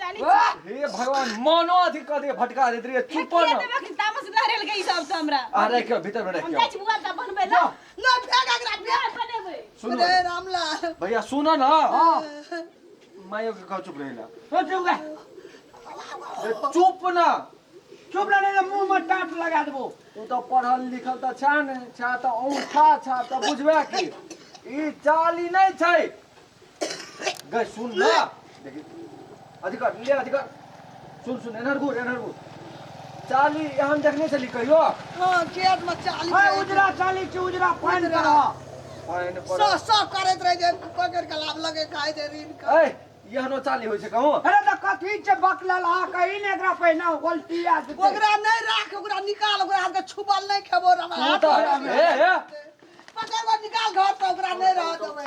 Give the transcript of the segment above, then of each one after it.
चली हे भगवान मनो अथी कऽ दे भटका देत रे चुप फेकिए न देबे कि तामस लहरेल गई सब से हमरा आ राखि के भीतर में राखि हम के जाइ छी बुआ ता बनबै ला ना फेंक एकरा फेंक बियाह बनेबै सुन रे रामलाल भैया सुन न हां मायो के कह चुप रहिला हो चुप गा ए, चुप न चुप रहने के मुंह में टाट लगा देबो तू तो पढ़ल लिखल त छा ने छा त औंठा छा त बुझबे की ई चाली नहीं छै गई सुन ना देखी अधिकार ले अधिकार सुन सुन एनहर घूर एनहर घूर चाली हम देखने चली कहियो हाँ खेत में चाली हाय के- उजरा चाली छी उजरा पान उजरा। करा पान सौ पर सौ करैत रहे जे पकड़ के लाभ लगे खाय दे रीन का ए यहनो चाली होय छै कहूं अरे त कथी छै बकलल आ कहीं ने एकरा पहिना उल्टी आ जेतै ओकरा नहीं राख ओकरा निकाल ओकरा हाथ के छुबल नहीं खेबो रे हमरा तू हाथ तऽ- में। हे, हे। पकड़ के निकाल घर से ओकरा नहीं रह देबे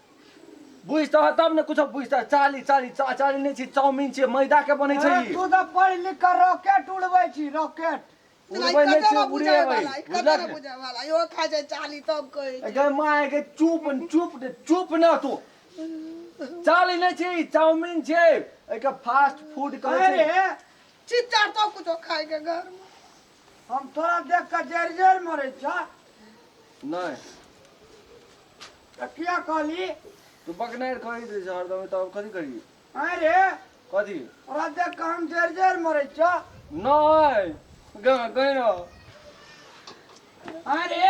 बुझ तह तब ने कुछो बुझ तह चाली चाली चा चाली नै छी चाउमीन छी मैदा के बनै छै ई तू त पढ़ लिख के रॉकेट उड़बै छी रॉकेट उड़बै नै छी उड़े भाई कते ने बुझे वाला यो खा जाय चाली तब कहै छै गै माय के चुप चुप चुप न तू चाली नै छी चाउमीन छै एके फास्ट फूड कहै छै चित्ता तो कुछो खाय के घर में हम तोरा देख कऽ जरि जरि मरै छ नहि तऽ किया कहली तू बकनारि कही दै छ हरदम तऽ हम कथी कही आँय रे कथी तोरा देख कऽ हम जरि जरि मरै छ नहि ग- गैर आँय रे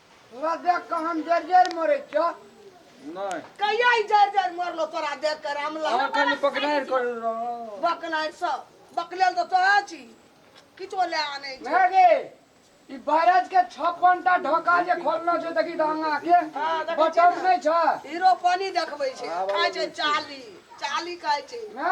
तोरा देख कऽ हम जर जर मरे छो नहीं कहिया ई जर जर मरलो तोरा देख के रामला और खाली पकड़ार कर रहा बकनार सब बकलेल तो तोरा छी किछो ले आने छी मैं गे ई बैराज के छप्पन टा ढोका जे खोलना छो देखी ढंगा के हाँ, देखै छियै बटन ने। नहीं छ हीरो पानी देखबै छै खाइ छै चाली चाली खाइ छै ना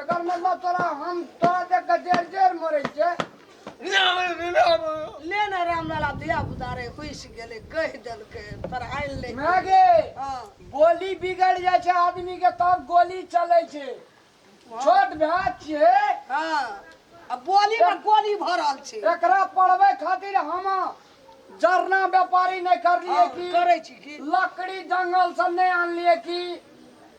एकर मतलब तोरा हम तोरा देख के जेर जेर मरे छे ले ना रामलाला धिया पुता रे घुसि गेलै कहि देलकै पढ़ाइ ले मैं गे हँ गोली बिगड़ जाए छे आदमी के तब गोली चले छे छोट भाई छे हँ आ बोलीमे गोली भरल छै एकरा पढ़बे खातिर हम जरना व्यापारी नहीं कर लिए हाँ, की करे छी की लकड़ी जंगल से नहीं आन लिए की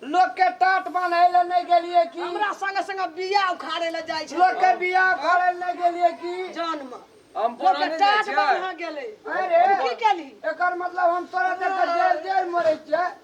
लोग के टाट बने ले नहीं के लिए की हमरा संग संग बिया उखाड़े ले जाय छै लोग के बिया उखाड़े ले नहीं के लिए की जन्म हम लोग के टाट बन गेले अरे की केली एकर मतलब हम तोरा देख जेल जेल मरे छै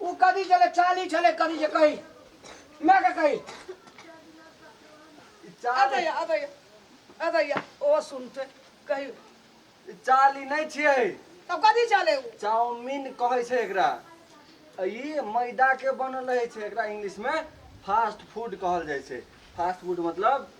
ओ कभी चले चाली चले कभी जे कही मैं के कही अबे अबे अबे ओ सुनते कही चाली नहीं छिए तब कथी चले ओ चाउमीन कहे छे एकरा ई मैदा के बनल रहे छे एकरा इंग्लिश में फास्ट फूड कहल जाय छे फास्ट फूड मतलब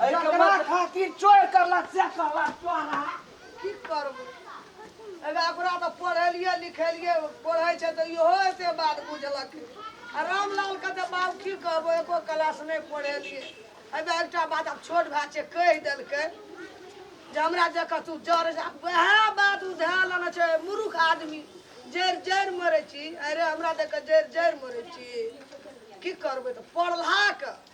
अरे ककरा खातिर चोर करला से कहला चोरा की करबो एबे ओकरा तऽ पढ़ेलिए लिखेलिए पढ़ै छै तऽ इहो एते बात बुझलक आ रामलाल के तऽ बाप की कहबो एको क्लास नहि पढ़ेलिए एबे एकटा बात आब छोट भाय छै कहि देलकै जे हमरा जकाँ तू जड़ जा वएह बात उ धए लेने छै मूर्ख आदमी जड़ि जड़ि मरै छी अरे हमरा जकाँ जड़ि जड़ि मरै छी की करबै तऽ पढ़लाके